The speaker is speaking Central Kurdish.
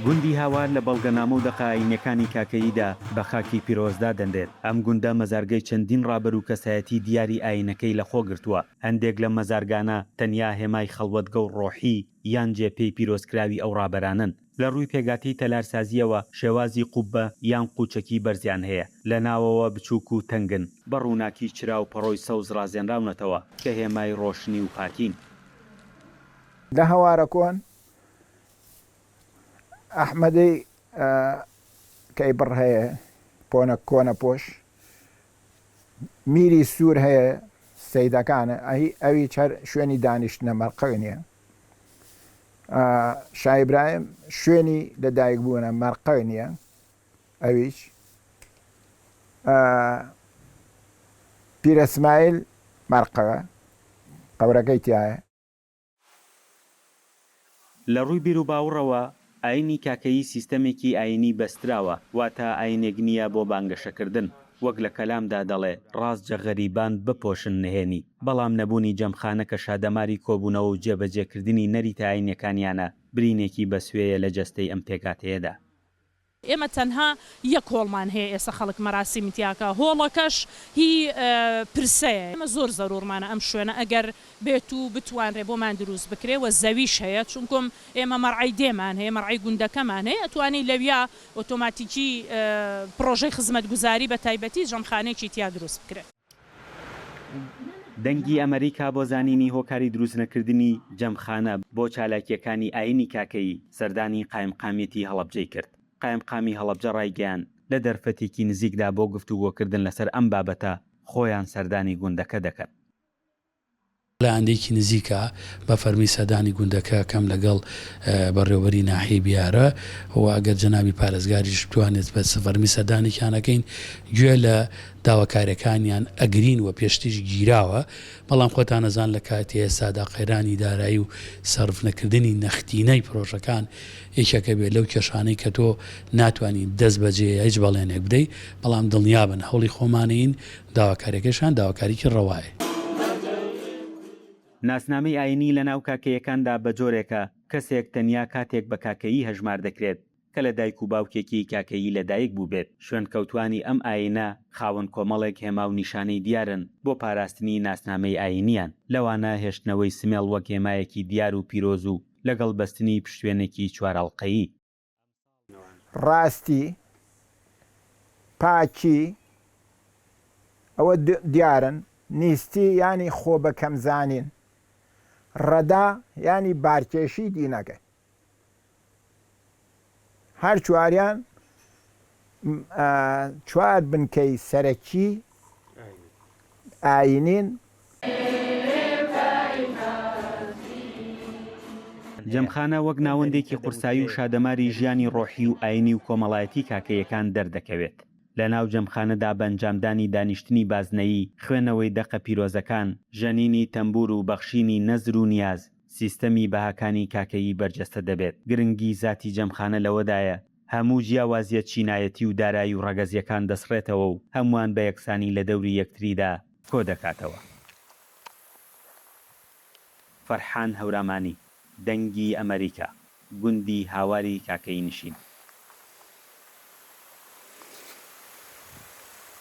گوندی هاوار لە بەڵگەنامە و دەقە ئایینیەکانی کاکەییدا بە خاکی پیرۆز دادەنرێت. ئەم گوندە مەزارگەی چەندین ڕابەر و کەسایەتی دیاری ئایینەکەی لە خۆ گرتووە. هەندێک لەم مەزارگانە تەنیا هێمای خەڵوەتگە و ڕۆحی یان جێ پێی پیرۆزکراوی ئەو ڕابەرانەن. لە ڕووی پێکهاتەی تەلارسازییەوە شێوازی قوببە یان قوچەکی بەرزیان هەیە، لە ناوەوە بچووک و تەنگن، بە ڕووناکی چرا و پەڕۆی سەوز ڕازێنراونەتەوە کە هێمای ڕۆشنی و پاکین. لە هەوارە کۆن ئەحمەدی کەی بڕ هەیە، پۆنە کۆنە پۆش میری سوور هەیە، سەیدەکانە، ئەویچ هەر شوێنی دانیشتنە، مەرقەگ نییە. شا ئیبراهیم شوێنی لە دایک بوونە مەرقەی نییە ئەویش پیرە سمایل مەرقەوە قەورەکەی تایە. لە ڕووی بیروباوڕەوە ئایینی کاکەیی سیستەمێکی ئایینی بەستراوە، واتە ئایینێک نییە بۆ بانگەشەکردن، وەک لە کەلامدا دەڵێ، ڕاست جە غەریبان بپۆشن نهێنی، بەڵام نەبوونی جەمخانە کە شادەماری کۆبوونەوە و جێبەجێکردنی نەریتە ئایینیەکانیانە، برینێکی بەسوێیە لە جەستەی ئەم پێکهاتەیەدا. ئێمە تەنها یەک هۆڵمان هەیە ئێستا خەڵک مەراسیمی تیاکا، هۆڵەکەش هی پرسەیە، ئێمە زۆر زەروورمانە ئەم شوێنە ئەگەر بێت و بتوانرێ بۆمان دروست بکرێ و زەویش هەیە چونکم ئێمە مەرعەی دێمان هەیە مەرعەی گوندەکەمان هەیە ئەتوانی لەویا ئۆتۆماتیکی پڕۆژەی خزمەتگوزاری بە تایبەتی ژەمخانەیەکی تیا دروست بکرێ. دەنگی ئەمەریکا بۆ زانینی هۆکاری دروستنەکردنی جەمخانە بۆ چالاکییەکانی ئایینی کاکەیی سەردانی قایمقامیەتی هەڵەبجەی کرد. قایمقامی هەڵەبجە ڕایگەیاند، لە دەرفەتێکی نزیکدا بۆ گفتوگۆکردن لەسەر ئەم بابەتە خۆیان سەردانی گوندەکە دەکەن. لە ئاندێکی نزیکا بە فەرمی سەردانی گوندەکە ئەکەم لەگەڵ بەڕێوەبەری ناحیەی بیارە و ئەگەر جەنابی پارێزگاریش بتوانێت بە فەرمی سەردانێکیان ئەکەین گوێ لە داواکاریەکانیان ئەگرین و پێشتریش گیراوە بەڵام خۆتان ئەزان لە کاتی ئێستادا قەیرانی دارایی و سەرف نەکردنی نەختینەی پرۆژەکان یەکێکە بێت لەو کێشانەی کە تۆ ناتوانین دەست بەجێ هیچ بەڵێنێک بدەیت بەڵام دڵنیابن هەوڵی خۆمانین داواکاریەکەشیان داواکاریەکی ڕەوایە. ناسنامەی ئاینی لە ناو کاکەیەکاندا بە جۆرێکە، کەسێک تەنیا کاتێک بە کاکەیی هەژمار دەکرێت کە لە دایک و باوکێکی کاکەیی لە دایک بووبێت. شوێنکەوتوانی ئەم ئاینە خاوەن کۆمەڵێک هێما و نیشانەی دیارن بۆ پاراستنی ناسنامەی ئاینیان، لەوانە هێشتنەوەی سمێڵ وەک هێمایەکی دیار و پیرۆز و لەگەڵ بەستنی پشتوێنێکی چوارئەڵقەیی. ڕاستی، پاکی، ئەوە دیارن، نیستی یانی خۆ بە کەم زانین، ڕەدا یانی بارکێشی دینەکەی. هەر چواریان چوار بنکەی سەرەکیی ئایینین. جەمخانە وەک ناوەندێکی قورسایی و شادەماری ژیانی ڕۆحی و ئایینی و کۆمەڵایەتی کاکەییەکان دەردەکەوێت. لە ناو جەمخانەدا بە ئەنجامدانی دانیشتنی بازنەیی، خوێنەوەی دەقە پیرۆزەکان، ژەنینی تەمبوور و بەخشینی نەزر و نیاز، سیستەمی بەهاکانی کاکەیی بەرجەستە دەبێت. گرنگی زاتی جەمخانە لەوەدایە هەموو جیاوازیە چینایەتی و دارایی و ڕەگەزیەکان دەسڕێتەوە و هەمووان بە یەکسانی لە دەوری یەکتریدا کۆدەکاتەوە. فەرحان هەورامانی، دەنگی ئەمەریکا، گوندی هاواری کاکەیی نشین.